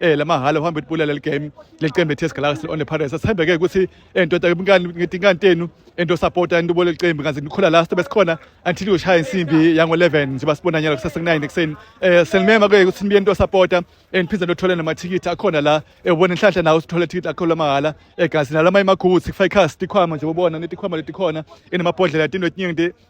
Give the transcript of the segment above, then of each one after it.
eh lamahhala uhamba ibulala leli game leli qembu eTS Galaxy on the Pirates asithembeke ukuthi endoda eh, ngani ngithi ngantenu ento support into bole qembu kanti nikhola last besikhona until ushaya insimbi yango 11 nje basibona nyalo kusasa 9 ekseni eh senimema ke ukuthi nibe into support and eh, phinda nothola namathikithi akhona la ebona eh, inhlanhla nawo sithola ithikithi lakho lamahhala egazi nalama imaguthi kufa ikhasi tikhwama nje ubona netikhwama letikhona inamabhodlela tinto eziningi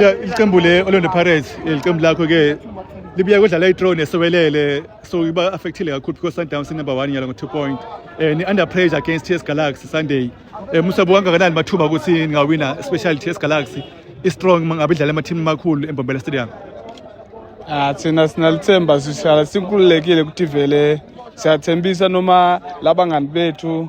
Ya iqembu le Orlando Pirates iqembu lakho ke libuya kudlala i-draw nesewelele so iba affectile kakhulu because Sundowns number 1 nyalo ngo2 point eh ni under pressure against TS Galaxy Sunday eh musabu kangakanani mathuba ukuthi ningawina especially TS Galaxy i-strong mangabe idlala ama-team amakhulu eMbombela Stadium Ah thina sinalithemba sihlala sinkululekile ukuthi vele siyathembisa noma labangani bethu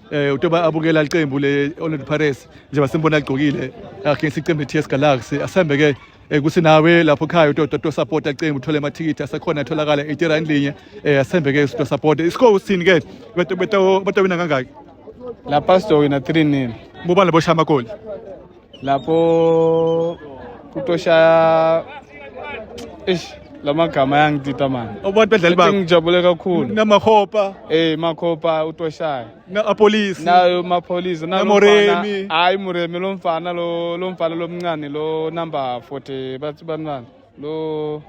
eh utoba abukela iqembu le Orlando Pirates njengoba simbona agqokile against iqembu TS Galaxy asembe ke eh, kusinawe lapho khaya utoto to support iqembu uthole amathikithi asekhona atholakala 80 rand linye eh, asembe ke to support iscore usini ke beto beto beto wina kangaki lapha sitowina 3 nil bubani labo shaya amagoli lapho kutoshaya eish lamagama yangidida manje abantu badlali babo ngijabule kakhulu namahopa eh makhopa utoshaya na apolice nayo mapolice na moremi hayi moremi lo mfana lo lo mfana lomncane lo number 40 bathi banani lo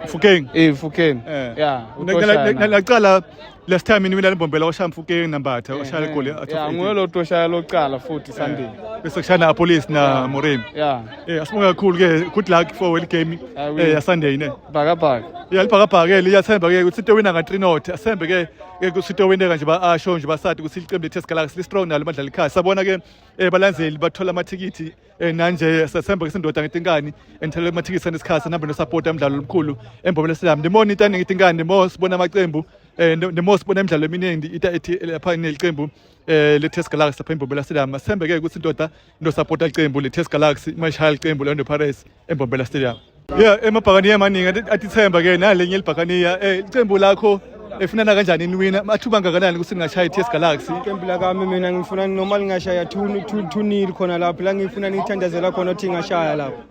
Fukeng. Eh Fukeng. Eh. Yeah. Naqala last time nimi lalimbombela oshaya Fukeng nambatha oshaya igoli. Yeah, nguye lo toshaya lokuqala futhi Sunday. Bese kushana a police na Moremi. Yeah. Eh asibonga kakhulu ke good luck for well game eh ya Sunday ne. Bhaka bhaka. Yeah, libhaka bhaka ke liyathemba ke ukuthi into wina nga 3 not. Asembe ke ke ukuthi into wina kanje ba asho nje basadi ukuthi iqembu lethe sikala strong nalo badlala ikhaya. Sabona ke eh balandzeli bathola amathikithi Eh, nanje sethemba ke sindoda ngithi inkani engithele amathikithi anesikhathi namba nosupport umdlalo omkhulu embobele silam ndimona into ngithi inkani ndimo sibona amaqembu eh ndimo sibona imidlalo eminingi ita ethi eh, lapha neliqembu eh le Test Galaxy lapha embobela silam sithembe ke ukuthi indoda ndo support iqembu le Test Galaxy mayishaya iqembu le Pirates eMbombela Stadium yeah emabhakaniya amaningi atithemba ke nalenye elibhakaniya eh iqembu lakho efunana kanjani niwina mathuba angakanani ukuthi ningashaya i-ts galaxy iqembu lakami mina ngifuna noma lingashaya tunil khona lapho la ngifuna nithandazela khona ukuthi ngashaya lapho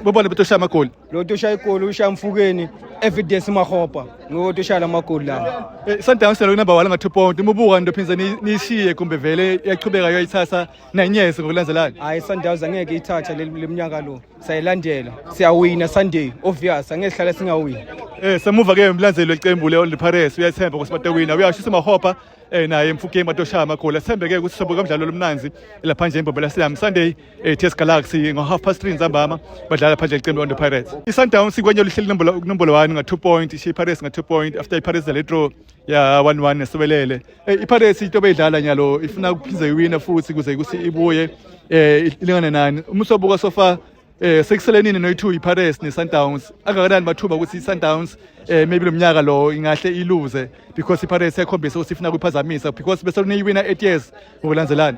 bobani betoshaya amagoli lo toshaya igoli ushaya mfukeni evidence mahopa nguwo toshaya la magoli lawo eh, sundowns nalo kunamba wala nga-two point umubuka nto phindze niyishiye kumbe vele yaqhubeka yoyithatha nenyesi ngokulandzelana hayi sundowns angeke ithatha leminyaka lo sayilandela siyawina sunday obvious angeke sihlale singawini eh semuva ke emlandzelwe iqembu le Orlando Pirates uyathemba ukuthi batewina uyashisa mahopa eh naye mfukeni batoshaya amagoli athembe ke ukuthi sobo kamdlalo lomnanzi lapha nje imbobela siyam Sunday eh TS Galaxy ngo half past 3 nzambama badlala phandle iqembu Orlando Pirates iSundowns ikwenye lihleli nombolo nombolo 1 nga 2 point iShey Pirates nga 2 point after iPirates le draw ya 1-1 esibelele eh, ipirates into beyidlala nyalo ifuna kuphinde iwine futhi kuze kuthi ibuye eh ilingane nani uma usobuka sofa eh sekuselenini noyi2 iPirates neSundowns angakanani mathuba ukuthi iSundowns eh maybe lomnyaka lo ingahle iluze because iPirates yakhombisa ukuthi ifuna kuphazamisa because bese niyiwina 8 years ngokulandelana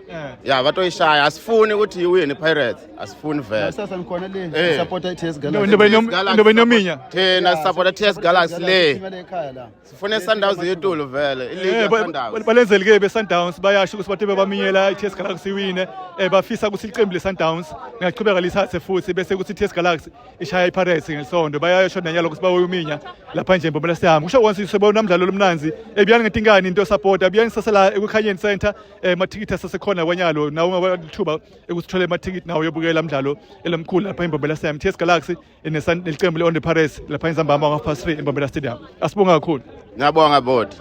Eh. ya batoyishaya asifuni ukuthi iwine pirates asifuni vele sasa nikhona le Eh. support TS Nibe Galaxy nom- nibe nominya. thina sisapota ts galaxy le Imali ekhaya la sifune isundowns yetulu vele Eh, iligi ba- ba- yasundowns balenzeli-ke be-sundowns bayasho ukuthi bathe bebaminyela i-ts galaxy iwine um bafisa ukuthi iqembu le-sundowns lingaqhubeka lithathe futhi bese kuthi i-ts galaxy ishaya ipirates ngesondo bayasho nanyalo ukuthi bawoyominya lapha nje mbomela sihambe kusho konse sebona mdlalo lomnanzi ebiyani ngetinkani into sapota biyani sasela ekukhanyeni center eh, amathikithi asesekhona kwanyalo nawo ungabalithuba ekusithola amathikithi nawo yobukela umdlalo elamkhulu lapha imbombela stadium ts galaxy nelicembu le-onde paris lapha inzambama ngo-half past three imbombela stadium asibonga kakhulu ngiyabonga bodi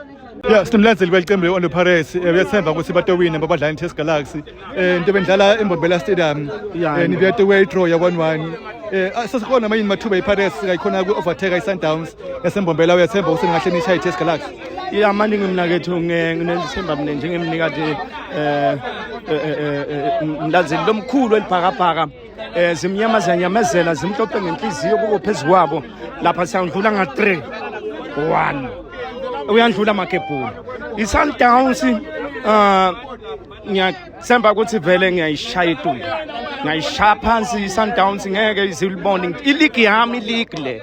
ya sinomlandzeli kwelicembu le-onde paris eh, uyathemba ukuthi batowine babadlala i-ts galaxy um into bendlala embombela stadium um nibuyateway draw ya-one one eh sesikhona manje mathuba iPirates kayikhona ku-overtake iSundowns yasembombela uyathemba ukuthi ningahle nishaye iTS Galaxy ya manje ngimnakethu nginethemba mina njengemnikati um eh, eh, eh, mlanzeli lomkhulu elibhakabhaka um zimnyama ziyanyamezela zimhlophe ngenhliziyo kuko phezu kwabo lapha siyandlula nga-three one uyandlula amakebhula i-sundowns um ngiyathemba ukuthi vele ngiyayishaya itulo ngiyayishaya phansi i-sundowns ngeke izilibone iligi yami iligi le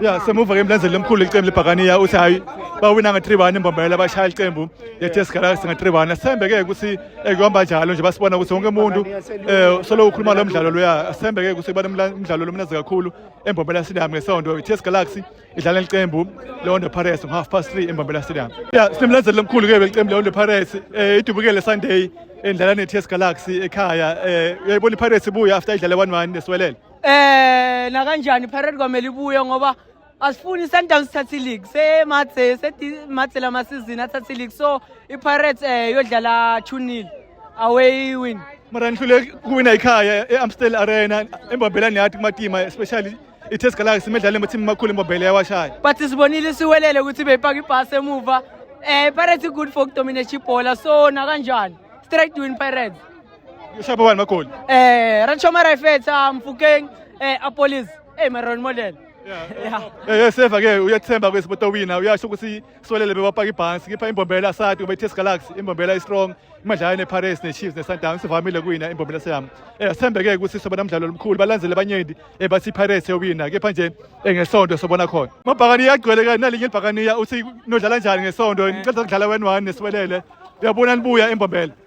ya semuva ke emlandzeli lomkhulu lelicembu lebhakaniya uthi hhayi bawina nge-three one imbombela bashaya ilicembu lethe sigalaxi nge-three one sithembe-ke ukuthi ekuhamba eh, njalo nje basibona ukuthi wonke umuntu um eh, solo ukhuluma lo mdlalo loya sithembe-ke ukuthi kuba nomdlalo lomnazi kakhulu embombela stadium ngesonto ithe sigalaxi idlala elicembu leondo pirates ngo-half past three embombela stadium ya sinemlandzeli lomkhulu-ke belicembu leondo pirates um eh, idubukele sunday endlala ne-ts galaxy ekhaya um uyayibona ipirates ibuya after idlale one one nesiwelele Eh nakanjani Pirate kwamele ibuye ngoba asifuni Sundowns thathe league se mathe se mathe lama season athathe league so iPirates eh yodlala 2-0 away win mara nihlule kuwina ikhaya e-amstel arena embambelani yathi kumatima especially i-test galaxy imedlalo emathimi amakhulu embambele yawashaya but sibonile siwelele ukuthi beyipaka ibhasi emuva um pirates good for ukudominate ibhola so nakanjani straight win pirates Ushaywa bani magoli? Eh, Ranchoma Raifetsa, Mfukeng, eh Apolis, eh Maron Model. Yeah. Eh eh seva ke uyathemba kwesi bota wina uyasho ukuthi swelele bewapaka ibhansi kipha imbombela sati ube Test Galaxy imbombela i strong imadlala ne Paris ne Chiefs ne Sundowns sivamile kuyina imbombela seyami eh sithembe ke ukuthi soba namdlalo omkhulu balandzele abanyenti eh bathi Paris yowina kepha nje eh, ngesonto sobona khona mabhakani yagcwele ke nalinye ibhakani ya uthi nodlala njani ngesonto ngicela ukudlala wen 1 neswelele uyabona nibuya imbombela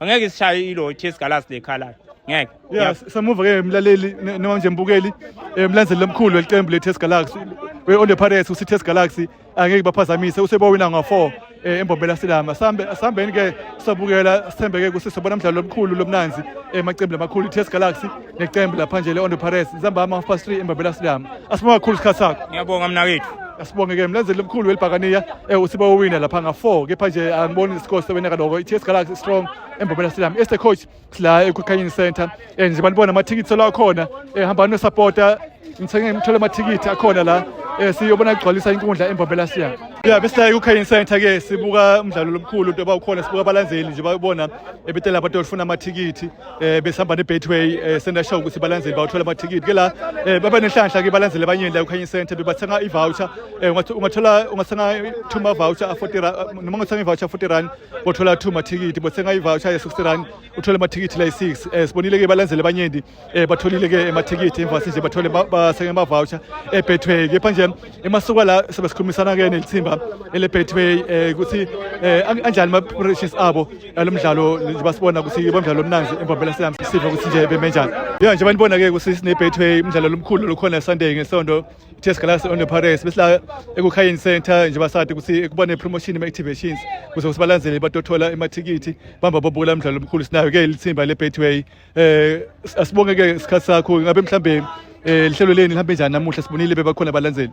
angeke sishaye ilo chase galas lekhala ngeke yeah samuva ke mlaleli noma nje mbukeli eh, mlandzeli lomkhulu welicembu le-test galaxy we-on the pirates usi-test galaxy angeke baphazamise usebowina ngo-four um eh, embombela silama sihambeni-ke sabukela sithembeke kusisebona mdlalo lomkhulu lomnanzi emacembu eh, lamakhulu i-test galaxy neqembu lapha nje le-ondo pares zihambama half past three embabela stadium asibonga kakhulu isikhathi sakho ngiyabonga mna wethu asibonge ke mlandzeli omkhulu welibhakaniya eh usiba owina lapha nga-four kepha nje angiboni isikole sewena kaloko i-ts galaxy strong embobela stadium este coach sila ekukhanyeni center um eh, njengoba nibona amathikithi solo akhona um eh, hambani nosapota ngithenge ngithole amathikithi akhona la um siyobona kugcwalisa inkundla embobela stadium ya besilaye kukhayini center ke sibuka umdlalo lomkhulu into yoba ukhona sibuka abalandzeli nje bayobona ebetela abantu olufuna amathikithi eh besihamba ne-betway eh sendasho ukuthi balandzeli bawuthola amathikithi ke la eh baba nenhlanhla ke balandzeli abanyeni la ukhanye center bebathenga i-voucher eh ungathi- ungathola ungathenga two ma-voucher a-40 rand noma ungathenga i-voucher a-40 rand bothola two mathikithi bothenga i-voucher ye-60 rand uthole amathikithi la yi-six eh sibonile ke balandzeli abanyeni eh batholile ke amathikithi emva sinje bathole ba- basenge ama-voucher e-betway kepha nje emasuka la sebesikhulumisana ke nelithimba ele Betway eh ukuthi eh anjani ma preparations abo alomdlalo nje basibona ukuthi bomdlalo omnanzi embombela siyami siva ukuthi nje beme njani yeah nje banibona ke ukuthi sine Betway umdlalo lomkhulu lokhona Sunday ngesonto Test Galaxy on the Paris besla ekukhayeni center nje basade ukuthi kubone promotion ema activations kuze sibalandzele batothola emathikithi bamba bobula umdlalo omkhulu sinayo ke lithimba le Betway eh asibonge ke isikhathi sakho ngabe mhlambe eh lihlelo leni lihambe njani namuhla sibonile bebakhona abalandzeli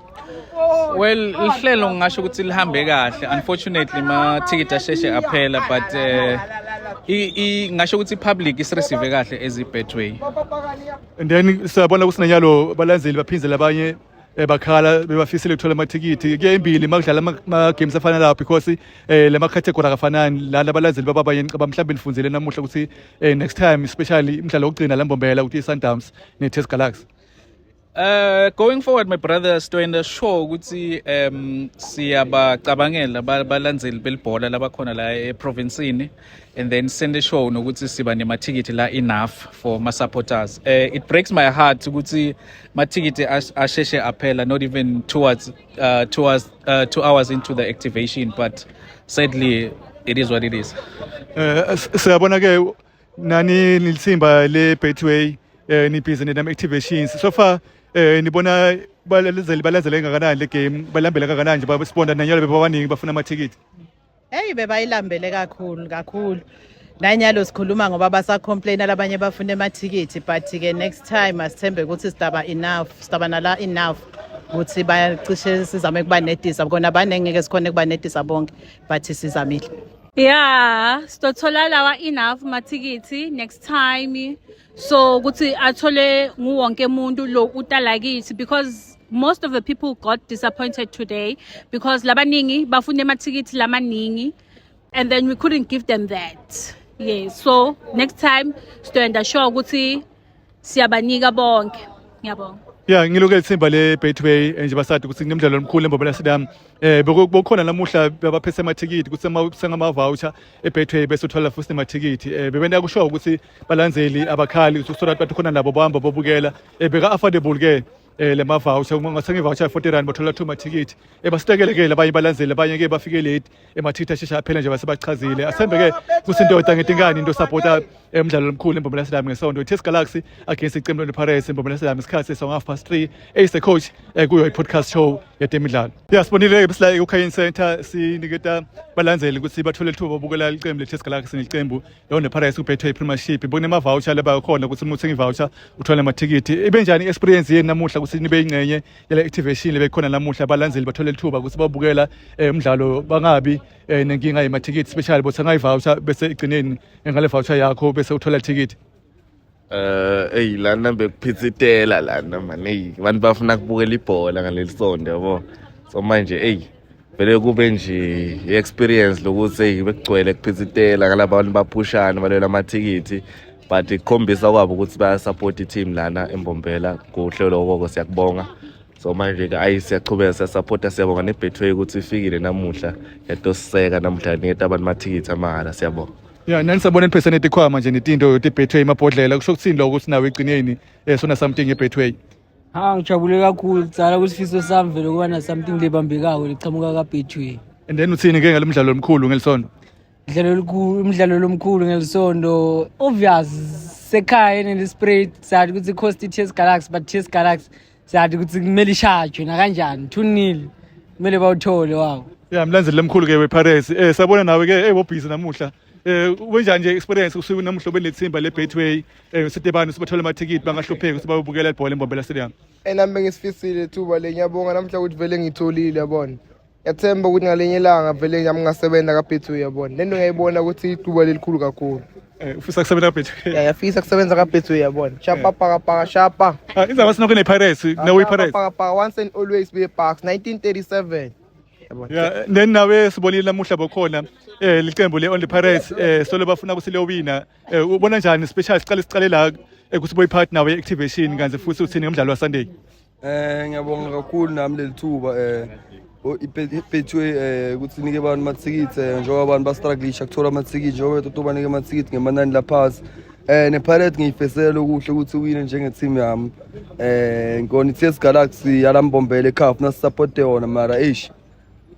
well lihlelo ngingasho ukuthi lihambe kahle unfortunately ma ticket asheshe aphela but eh i ngasho ukuthi public isireceive kahle as i betway and then siyabona kusinanyalo balandzeli baphindze labanye eh, bakhala bebafisile ukuthola amathikithi kuyembili uma kudlala ama-games afana lawo because um eh, la makhathegori akafanani lana abalandeli bababanye ngicaba mhlawumbe nifundile namuhla ukuthi um next time especially umdlalo wokugcina la mbombela ukuthi i-sundowns ne-test galaxy Uh going forward my brother Stoyenda sure ukuthi um siyabacabangela balandeli belibhola labakhona la eprovinsini and then send a show nokuthi siba nemathikithi la enough for my supporters uh, eh, it breaks my heart ukuthi mathikithi asheshe aphela not even towards uh, towards uh, two hours into the activation but sadly it is what it is uh, siyabona ke nani nilithimba le betway eh nibhizi nenam activations so far eh nibona balazeli balazela engakanani le game balambela kangakanani nje basibona nanyalo bebabaningi bafuna amathikithi Hey bebayilambele kakhulu kakhulu. Nanyalo sikhuluma ngoba basacomplain labanye bafuna emathikithi but ke next time asithembe ukuthi sidaba enough sidaba nala enough ukuthi bayacishe sizame kubanedisa kona banengeke sikhona kubanedisa bonke but sizamile. Yeah, sitothola lawa enough mathikithi next time. so ukuthi athole nguwonke umuntu lo utalakithi because most of the people got disappointed today because labaningi bafuna emathikithi lamaningi and then we couldn't give them that yeah so next time sizoyenda sure ukuthi siyabanika bonke ngiyabonga ya ngilokele ithimba le-betway eh, nje basade ukuthi kunemdlalo omkhulu embobela sidam eh bekukhona namuhla baphese amathikithi ukuthi sengamavoucher ebetway bese uthola futhi nemathikithi um eh, bebenta kushoyo ukuthi balandzeli abakhali so that bathi khona nabo bahamba bobukela eh, beka affordable ke eh le mavoucher uma ngathenga ivoucher 40 rand bathola two mathikithi ebasitekelekele eh, abanye balandzele abanye ke bafike late emathikithi eh, ashesha aphela nje basebachazile asembe ke kusindoda ngetinkani into supporta emidlalo omkhulu embomela sidami ngesonto iTS Galaxy against iqembu lePirates embomela sidami isikhathi song half past 3 ace coach kuyo ipodcast show yetemidlalo yeah sibonile ke sila eKhayini Center siniketa balandzeli ukuthi bathole ithuba bokubukela iqembu leTS Galaxy neqembu Yo nePirates kubhethwe iPremiership bokunemavoucher laba khona ukuthi uma uthenga ivoucher uthola amathikithi ibe njani experience yenu namuhla ukuthi nibe ingcenye yale activation lebe khona namuhla abalandzeli bathole ithuba ukuthi babukela eh, umdlalo bangabi eh, nenkinga yemathikithi especially bothenga ivoucher bese igcineni ngale voucher yakho bese uthola ithikithi Eh eyi lana bekuphithitela lana mani eyi abantu bafuna kubukela ibhola ngaleli sonto yabo so manje eyi vele kube nje i-experience lokuthi eyi bekugcwele kuphithitela ngalaba bantu baphushana balwela amathikithi but kukhombisa kwabo ukuthi bayasapota i-team lana embombela kuhle lokoko siyakubonga so manje-ke ayi siyachubeka siyasapota siyabonga nebetway ukuthi ifikile namuhla yatosiseka namuhla niketa abantu amathikithi amahhala siyabonga ya nani sabona ipheseneti ikhwaya manje netinto yoti betway amabhodlela kusho ukuthini lokho ukuthi nawe egcineni eh sona something ebetway ha ngijabule kakhulu kutsala kusifiso sami vele kuba na something lebambekako liqhamuka ka betway and then uthini ke ngalomdlalo omkhulu ngelisonto umdlalo olukhulu umdlalo lomkhulu ngelisonto obvious sekhaya nelispray sathi ukuthi cost i-ts galaxy but ts galaxy siyathi ukuthi kumele ishajwe nakanjani two nil kumele bawuthole wawo ya mlandzeli lemkhulu ke wepirates eh sabona nawe ke eh bobhizi namuhla eh wenjani nje experience usuku namuhla benethimba lebetway eh sitebani sibathola amathikithi bangahlupheki sibabukela ibhola embombela stadium enami bengisifisile ithuba le ngiyabonga namhla ukuthi vele ngitholile yabona yathemba ukuthi ngalinye ilanga vele nami ngasebenza kabhethu uyabona lento ngiyayibona ukuthi iduba lelikhulu kakhulu Eh, ufisa kusebenza kabhethu ya yafisa kusebenza kabhethu uyabona shapa paka paka shapa Ah, indaba sinokho ne-pirates nawe i-pirates paka paka once and always be bucks 1937 yabona ya then nawe sibonile namuhla bokhona eh liqembu le only pirates eh solo bafuna ukuthi liyowina eh ubona njani special siqale siqale la eh, ukuthi boyiphathi nawe activation kanti futhi uthini ngomdlalo wasunday Eh ngiyabonga kakhulu nami leli thuba eh ipethwe eh ukuthi nike abantu amathikithi eh, njengoba abantu bastruglisha kuthola amathikithi njengoba bethu banike amathikithi ngemanani laphansi eh nePirates ngiyifesela okuhle ukuthi uwine njenge team yami eh ngikona iTS Galaxy yalambombele eCAF na support yona mara eish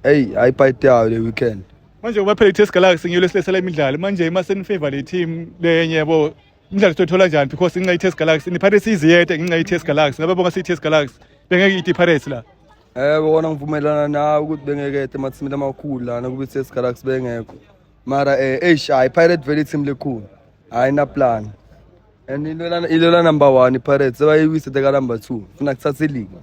hey ayipayite yayo le weekend manje kubaphela iTS Galaxy ngiyolesisela imidlalo manje uma senifavor le team lenye yabo Umdlalo sithola njani because inxa iTS Galaxy ni Pirates iziyete inxa iTS Galaxy ngabe bonga siTS Galaxy bengeke ithi Pirates la Eh bona ngivumelana nawe ukuthi bengeke ete mathimile amakhulu lana kube iTS Galaxy bengekho mara eh eish hayi Pirate vele team lekhulu hayi na plan and ilona ilona number 1 iPirates sebayiwise teka number 2 funa kuthatha iligi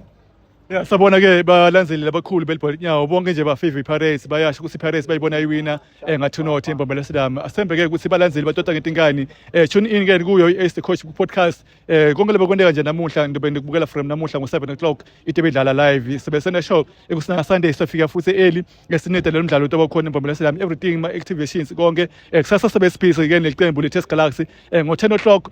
Ya sabona ke balandzeli labakhulu belibhola inyawo bonke nje bafavor iPirates bayasho ukuthi iPirates bayibona iwina eh ngathi unothi embambela sidami asembe ke ukuthi balandzeli batota ngetinkani eh tune in ke kuyo iSt Coach podcast eh konke lebekwendeka nje namuhla ngibe ngikubukela from namuhla ngo 7 o'clock itebe idlala live sibe sena show ekusina Sunday sofika futhi early ngesinede lo mdlalo utoba khona embambela sidami everything my activations konke eh kusasa sibe space ke neliqembu le Test Galaxy eh ngo 10 o'clock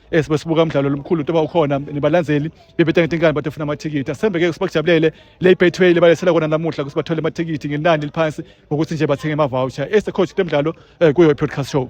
eh sibesibuka umdlalo lomkhulu into bawukhona nibalandzeli bebetanga tinkani bathi ufuna amathikithi asembeke ukuthi bakujabulele le betway lebalethela kona namuhla ukuthi bathole amathikithi ngenani liphansi ngokuthi nje bathenge ama voucher eh coach temdlalo eh, kuyo podcast show